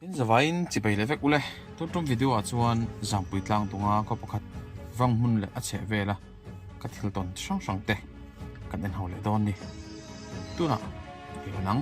In zavaiin chipei leh vek ule. Tun tum video ah chuan zangpui tlang tunga khaw pakhat vang hmun leh a chheh vela ka thil tawn chi hrang hrang te kan en haw leh dawn ni. Tunah i la nang.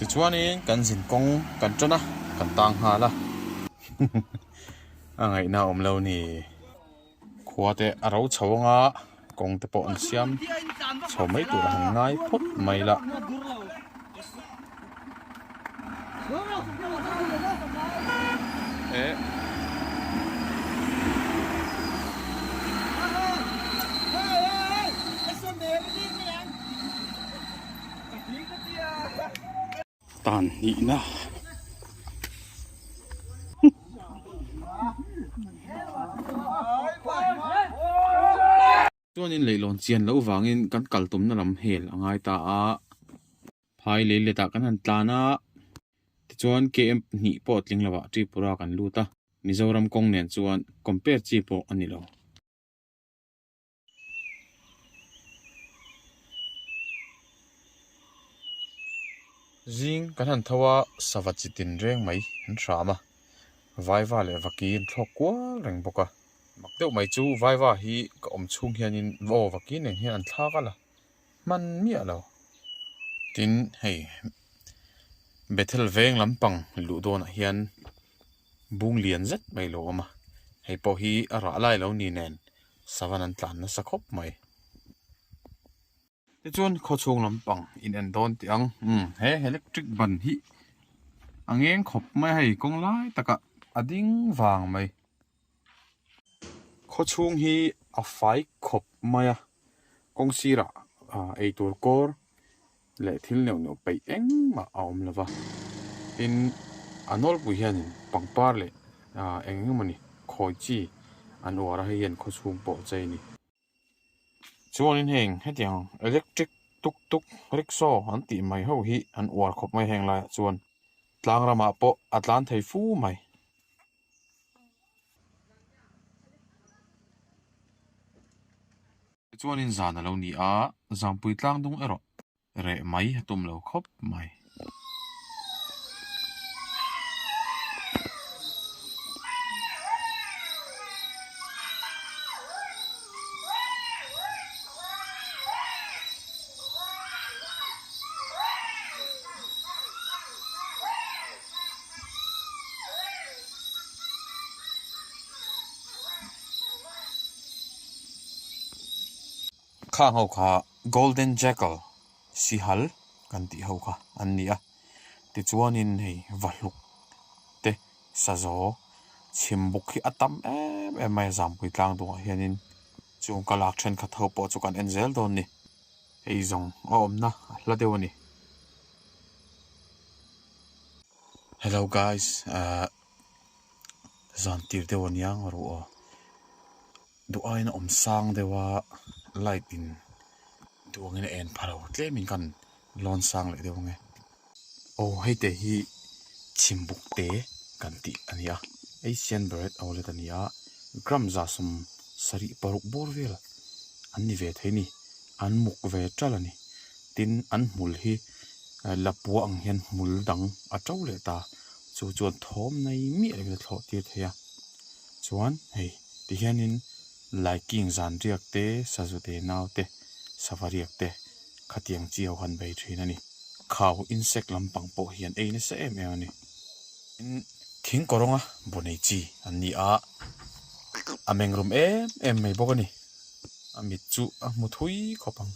Tichuanin kan zin kawng kan tan a, kan tang nghal a. A ngaihna a awm lo ni. Khua te a ro chho ang a, kawng te pawh an siam chho mai tur a han ngai phawt mai la. Tan hnihna chuanin leihlawn chian loh vangin kan kaltumna lam hel a ngai ta a, phai lei letah kan han tlan a, tichuan KM pahnih pawh tling lovah Tripura kan lut a, Mizoram kawng nen chuan compare chi pawh a ni lo. Zing kan han tho a, sava chitin reng mai an hram a, vaiva leh vaki an thlawk kual reng bawk a, mak deuh mai chu vaiva hi ka awm chhung hianin vaw vaki nen hian an thlak a la, hman miah lo. Tin, hei Bethel veng lampang luh dawnah hian bung lian zet mai lo awm a, hei pawh hi a rah lai lo ni nen. Savan an tlan nasa khawp mai. Tichuan khaw chhung lampang in en dawn tih ang. Umm he electric ban hi a ngeng khawp mai a hei, kawng lai takah a ding vang mai. Khaw chhung hi a fai khawp mai a, kawng sirah ei tur kawr leh thil neuh neuh peih engmah a awm lo va, tin a nawlpui hianin pangpar leh eng eng emawni khawi chi an uar a, hei hian khawchhung pawh che a ni. Chuanin heng hetiang electric tuk tuk, rickshaw an tih mai ho hi an uar khawp mai heng laiah chuan tlang ramah pawh a tlan thei fu mai. Tichuanin zan a lo ni a, Zangpui tlang dung erawh reh mai a tum lo khawp mai. Kha ho kha golden jackal sihal kan tih ho kha an ni a, tichuanin hei vahluk te sazaw chhim buk hi a tam em em mai a, Zampuitlang dungah hianin chung ka lak thenkhat ho pawh chu kan en zel dawn ni. Eizawng a awmna a hla deuh a ni. Hello guys ahh zan tir deuh a nia ngaw ru aw. Duhaiin a awm sang deuh a light in duangin a en pha lo tlem in ka han lawn sang leh deuh ang e. Aw hei te hi chhim buk te kan tih a ni a asian beret outlet a ni a gram zasawm sarih paruk bawr vel an ni ve thei a ni an muk ve tal a ni tin an hmul hi ehh lapuah ang hian hmul dang a to leh ta chu chuan thawmnai miah in a thlawhtir thei a chuan hei ti hian in-- Laiking zanriak te, sazute nau te, savariak te khatiang chiau han bei thin a ni. Khau, insect, lampang pawh hian ei nasa em em a ni. Tin, thing kawrawnga bu nei chi an ni a, a meng rum em em mai bawk a ni. A mit chu a hmu thui khawp ang.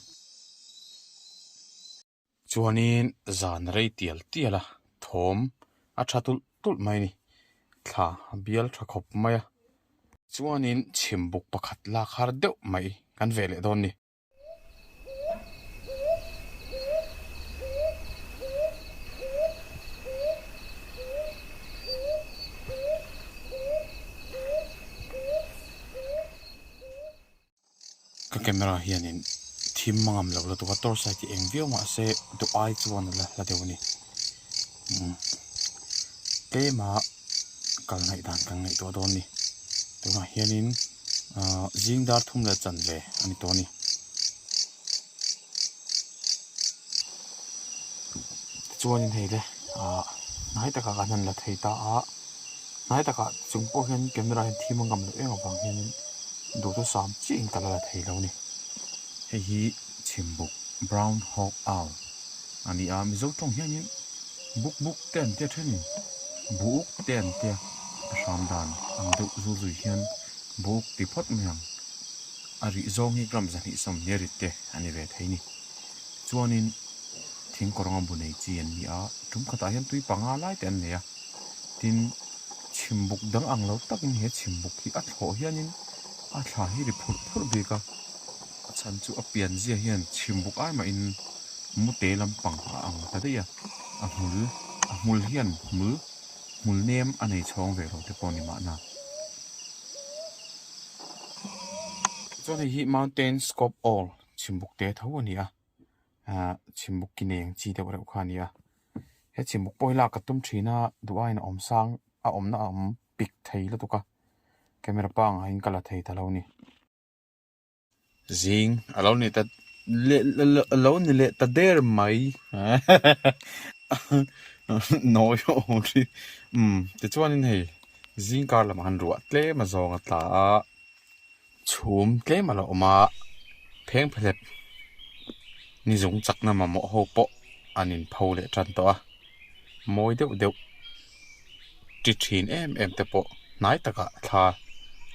Chuanin zan rei tial tial a thawm a tha tulh tulh mai a ni. Thla a bial tha khawp mai a. Chuanin chhim buk pakhat lak har deuh mai kan ve leh dawn a ni. Ka camera hianin thim hma ngam lo lutuk a torch light hi eng viau mahse duh ai chuan a la hla deuh a ni tlema kal ngaih dan kan ngaih tawh dawn a ni tunah hianin zingdar thum leh chanve a ni tawh a ni. chuan in hei le ah hnai takah kan han la thei ta a hnai takah chung pawh hian camera hian thim a ngam loh em avang hian in duh chu sam chiah in ka la la thei lo ni hei hi chhim buk brown hawk owl a ni a mizo tawng hian in buk buk te an tia then in bu uk te an tia a hram dan ang deuh zu zui hian bu uk ti phawt mai ang. A rih zawng hi gram zahnihsawm hmel rit te a ni ve thei ni. Chuanin thing kaw rawnga bu nei chi an ni a, tum khatah hian tui panga lai te an nei a, tin chhim buk dang ang lo takin he chhim buk hi a thlawh hianin a thla hi ri phurh phurh bik a, a chhan chu a pian zia hian chhim buk ai mahin mute lampang a ang ta daih a, a hmul a hmul hian hmul hmul nem a nei chhawng ve lo te pawh ni mahna. Chuan hei hi mountains kawp awl chhim buk te tho a ni a, aah chhim buk ki neng chi deuh reuh kha a ni a, he chhim buk pawh hi lak a tum thin a, duhaiin a awm sang a awmna a awm pik thei lutuk a, camera pangahin ka la thei ta lo a ni. Zing a lo ni ta a lo ni leh ta der mai. Nawi ho ho ri. Um, tichuanin hei zing kar lamah han ruah tlem a zawng a tla a. Chhum tlem a lo awm a, pheng phalep ni zung chakna mamawh ho pawh an inpho leh tan tawh a, mawi deuh deuh. ti thin em em te pawh hnai takah thla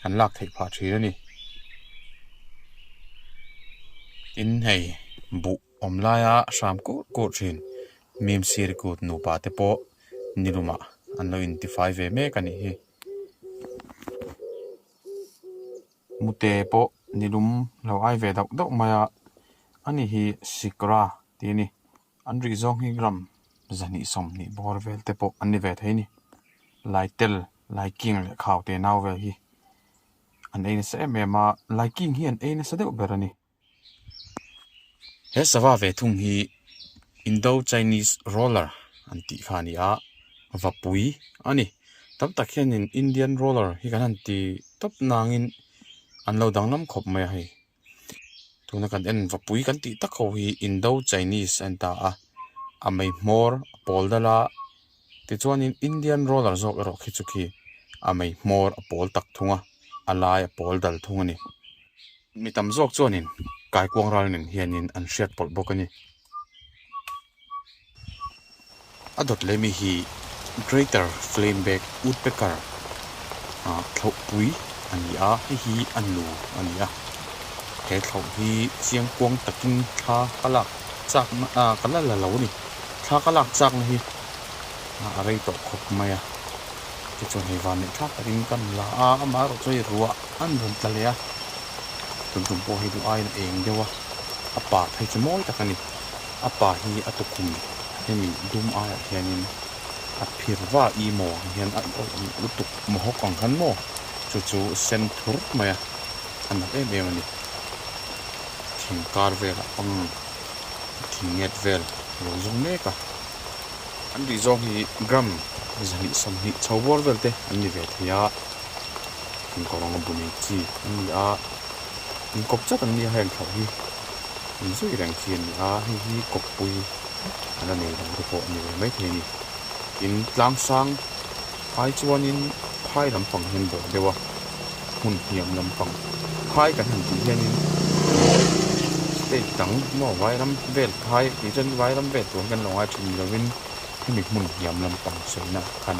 an lak theih phah thin a ni. Tin hei buh awm laia a hram kut kut thin mim siri kut nupa te pawh niluma an lo in tifai ve mek a nih hi. Mute pawh nilum lo ai ve dauh dauh mai a, ani hi sikra ti a ni. An ri zawng hi ram zahnih sawm hnih bawr vel te pawh an ni ve thei ni. Lai tel, Lai King leh Khau te nau vel hi an ei nasa em em a, Lai King hi an ei nasa deuh ber a ni. He sava ve thung hi Indo-Chinese Roller an tih kha a ni a, vapui a ni. Tam tak hianin Indian Roller hi kan han ti tawp nangin an lo danglam khawp mai a hei. tuna kan en vapui kan tih tak ho hi indo chinese a ni ta a a mei hmawr a pawl dal a tichuanin indian roller zawk erawh khi chu khi a mei hmawr a pawl tak thung a a lai a pawl dal thung a ni mi tam zawk chuanin kaikuang ralin hianin an hriat pawlh bawk a ni. A dawt leh mi hi Greater Flamebeck Woodpecker thlauhpui a ni a, hei hi a nu a ni a. He thlauh hi chiang kuang takin thla ka lak chakna ah ka la la lo a ni. Thla ka lak chakna hi a rei tawh khawp mai a, tichuan hei van neih thlak takin ka la a, amah erawh chu hei ruah. An rawn tla leh a, Tumtum pawh hi duh aiin a eng deuh a, a pa phei chu mawi tak a ni. A pa hi a tukhum hemi dum aiah hianin a phir va i maw ang hian a awlh ang lutuk mahawk ang han maw, chu chu sen thur mai a, a nalh em em a ni. Thing kar velah pang thing nget vel a lo zawng mek a. An ri zawng hi gram zahnih sawmhnih chho buar velte an ni ve thei a. an kawng ang a bu nei chi an ni a in kawp chat an ni a heng thlauh hi in zui reng chi an ni a hei hi kawppui a la nei dang te pawh a ni ve mai thei a ni in tlang sang ai chuanin phai lampang hian bawh deuh a hmun hniam lampang phai kan han tih hianin stage dang maw vairam vel phai tih chuan vairam vel tur hian kan lo ngai thin lovin hemi hmun hniam lampang sawi na khan.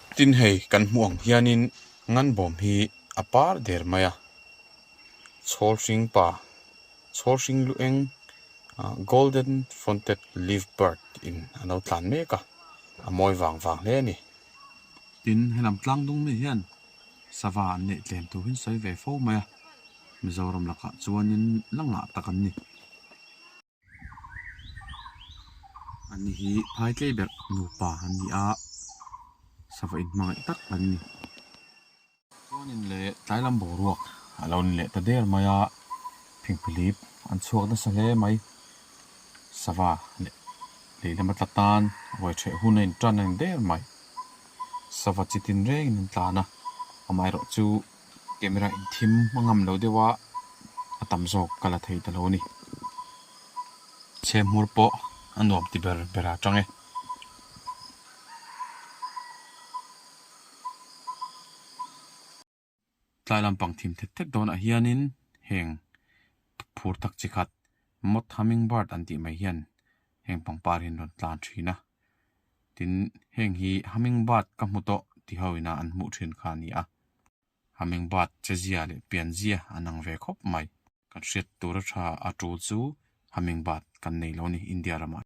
Tin hei kan hmuh ang hianin ngan bawm hi a par der mai a, chhawl hring pa, chhawl hring luh eng ah golden fronted leaf bird in a lo tlan mek a, a mawi vang vang hle a ni. Tin he lam tlang dungna hian sava an neih tlem tur hi a sawi ve fo mai a, Mizoram lakah chuanin la ngah tak an ni. an ni hi phai tlei ber nupa an ni a sava in hmangaih tak an ni chuan in leh tlai lam boruak a lo ni leh ta der mai a phingphilip an chhuak nasa hle mai sava leh lehlam a tla tan ruai chhe hun a in tan a ni der mai sava chitin reng in an tlan a amaherawhchu. Camera in thim a ngam lo deuh a, a tam zawk ka la thei ta lo a ni. Chhe hmur pawh a nuam ti ber ber a chang e. Tlai lampang thim thet thet dawnah hianin heng phur tak chi khat Mott Hummingbird an tih mai hian heng pangparin rawn tlan thin a. tin heng hi hummingbird ka hmu tawh ti ho ina an hmuh thin kha a ni a, hummingbird chezia leh pianzia an ang ve khawp mai. Kan hriat tura tha a tul chu hummingbird kan nei lo ni India ram ah.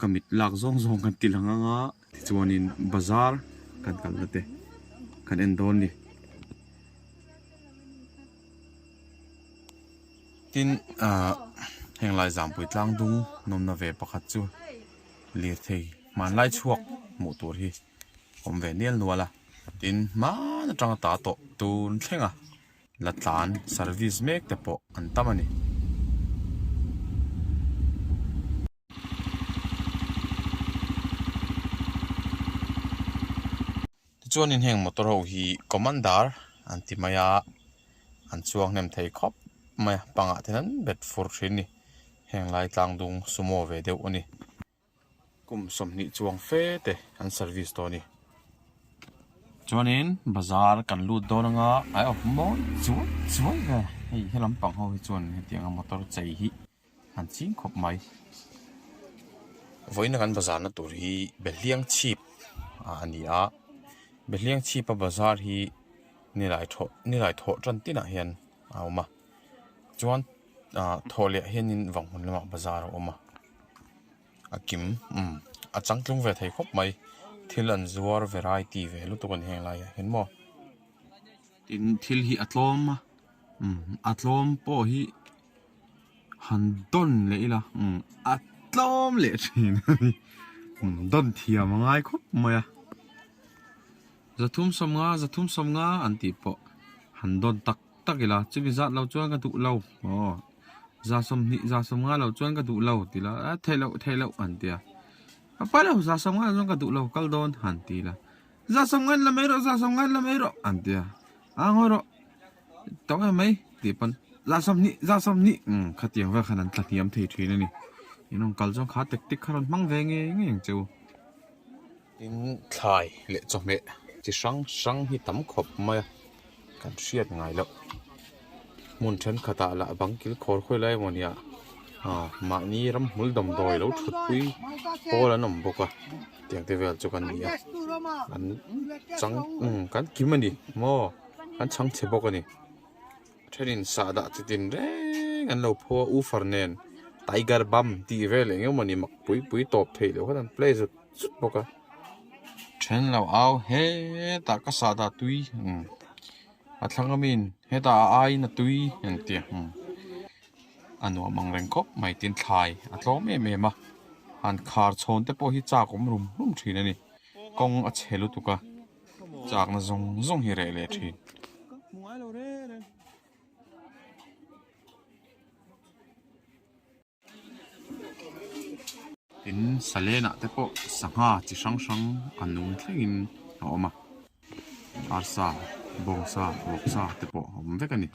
Ka mit lak zawng zawng kan tih la ngang a, tichuanin bazar kan kal la teh kan en dawn ni. Tin ah heng lai zangpui tlang dung nawmna ve pakhat chu lirthei hmanlai chhuak hmuh tur hi awm ve nial nual a, tin hman atanga ta tawh tun thleng a. la tlan service mek te pawh an tam a ni chuanin heng motor ho hi commander an ti mai a an chuang hnem thei khawp mai a pangah te hian bet fur thin a ni heng lai tlang dung sumo ve deuh a ni. Kum sawmhnih chuang fe te an service tawh a ni. Chuanin bazar kan lut dawn anga ai awp mawi chuai chuai ve. Hei he lampang ho hi chuan heti anga motor chei hi han ching khawp mai. Vawiin a kan bazarna tur hi Behliang chhip ah a ni a, Behliang chhip a bazar hi Nilai thaw Nilai thawh tan tinah hian a awm a. Chuan ah thaw leh hian in vang hun lamah bazar a awm a a kim umm a chang tlung ve thei khawp mai thil an zuar variety ve lutuk a ni heng lai ah hian maw tin thil hi a tlawm a umm a tlawm pawh hi han dawn leh ila umm a tlawm leh thin a ni umm dawn thiam a ngai khawp mai a za thum sawm nga za thum sawm nga an tih pawh han dawn tak. tak ila, chumi zat lo chuan ka duh lo, aw, za sawm hnih, za sawm nga lo chuan ka duh lo ti ila, a theih loh, theih loh an ti a, a pai lo, za sawm nga lo chuan ka duh lo, kal dawn han ti ila, za sawm ngain la mai rawh, za sawm ngain la mai rawh an ti a, a ngawi rawh, tawng em mai tih pawn, za sawm hnih, za sawm hnih, umm khatiang vel khan an tla hniam thei thin a ni, in awm kal chuan kha tek tek kha rawn hmang ve ngei ngei ang che u. Tin, thlai leh chawhmeh chi hrang hrang hi tam khawp mai a, kan hriat ngai loh. Hmun thenkhatah lah bang kilkhawr khawi lai emaw nia, aw, mahni ramhmul damdawi lo thutpui pawl an awm bawk a, tiang te vel chu kan ni a, an chang, umm, kan kim a ni maw, kan chhang che bawk a ni. Thenin sah dah chitin reng an lo pho a, U Far nen Tiger Bum tih vel eng emaw ni mak pui pui tawp theih loh khan an play zut zut bawk a. Then lo au hetah ka sah dah tui umm a thlang awmin hetah a aiin a tui an ti a, umm a nuam ang reng khawp mai tin thlai a tlawm em em a, han khar chhawn te pawh hi chak awm rum rum thin a ni, kawng a che lutuk a. Chakna zawng zawng hi reh leh thin. Tin Salena te pawh sangha chi hrang hrang a nung thlengin a awm a. Arsa, Bawngsa, Ruaksa te pawh a awm vek a ni.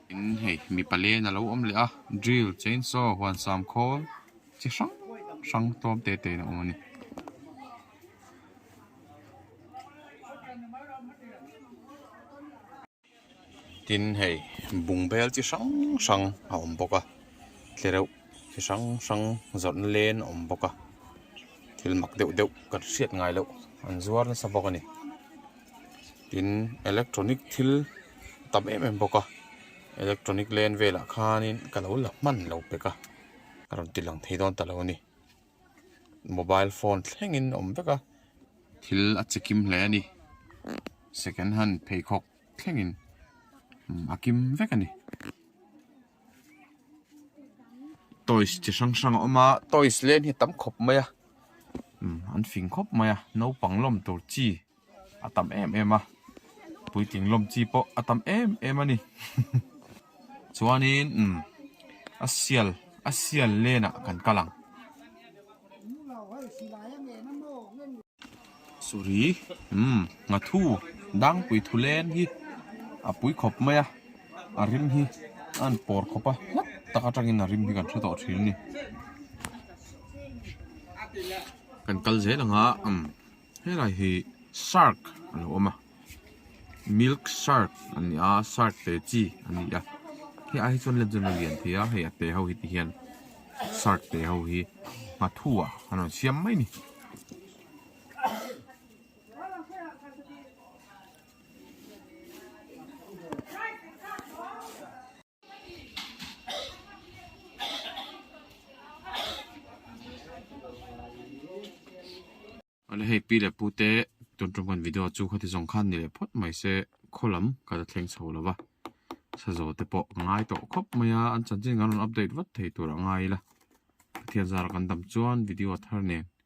Tin hei mi palen a lo awm leh a, Drill, Chainsaw, Huansam khawl chi hrang hrang tlawm te tein a awm a ni. tin hei bung bel chi hrang hrang a awm bawk a tlereuh tlereuh chi hrang hrang zawrhna len a awm bawk a thil mak deuh deuh kan hriat ngai loh an zuar nasa bawk a ni tin electronic thil a tam em em bawk a electronic len velah khan in ka lo la hman lo pek a a rawn tilang thei dawn ta lo a ni. mobile phone thlengin awm vek a thil a chi kim hle a ni second hand pheikhawk thlengin umm a kim vek a ni toys chi hrang hrang a awm a toys len hi a tam khawp mai a umm an fing khawp mai a naupang lawm tur chi. A tam em em a, puitling lawm chi pawh a tam em em a ni. Chuanin umm a sial a sial lenah kan kal ang. Suri umm Nghathu dang pui thu len hi a pui khawp mai a, a rim hi a han pawr khawp a, hlat tak atangin a rim hi kan hre tawh thin a ni. Kan kal zel ang a umm. Helai hi shark a lo awm a milk shark a ni a shark te chi a ni a hei a hi chuan lemzia a lian theih a hei a te ho hi te hian shark te ho hi hma thu ah an rawn siam mai ni. Ala hei pi leh pu te tun tum kan video chu khawti zawng khan ni leh phawt mai se khaw lam kan la thleng chho lova sazo te pawh ka ngai tawh khawp mai a an chanchin kan rawn update vat thei tur a ngai ila Pathian zara kan dam chuan video a thar nen.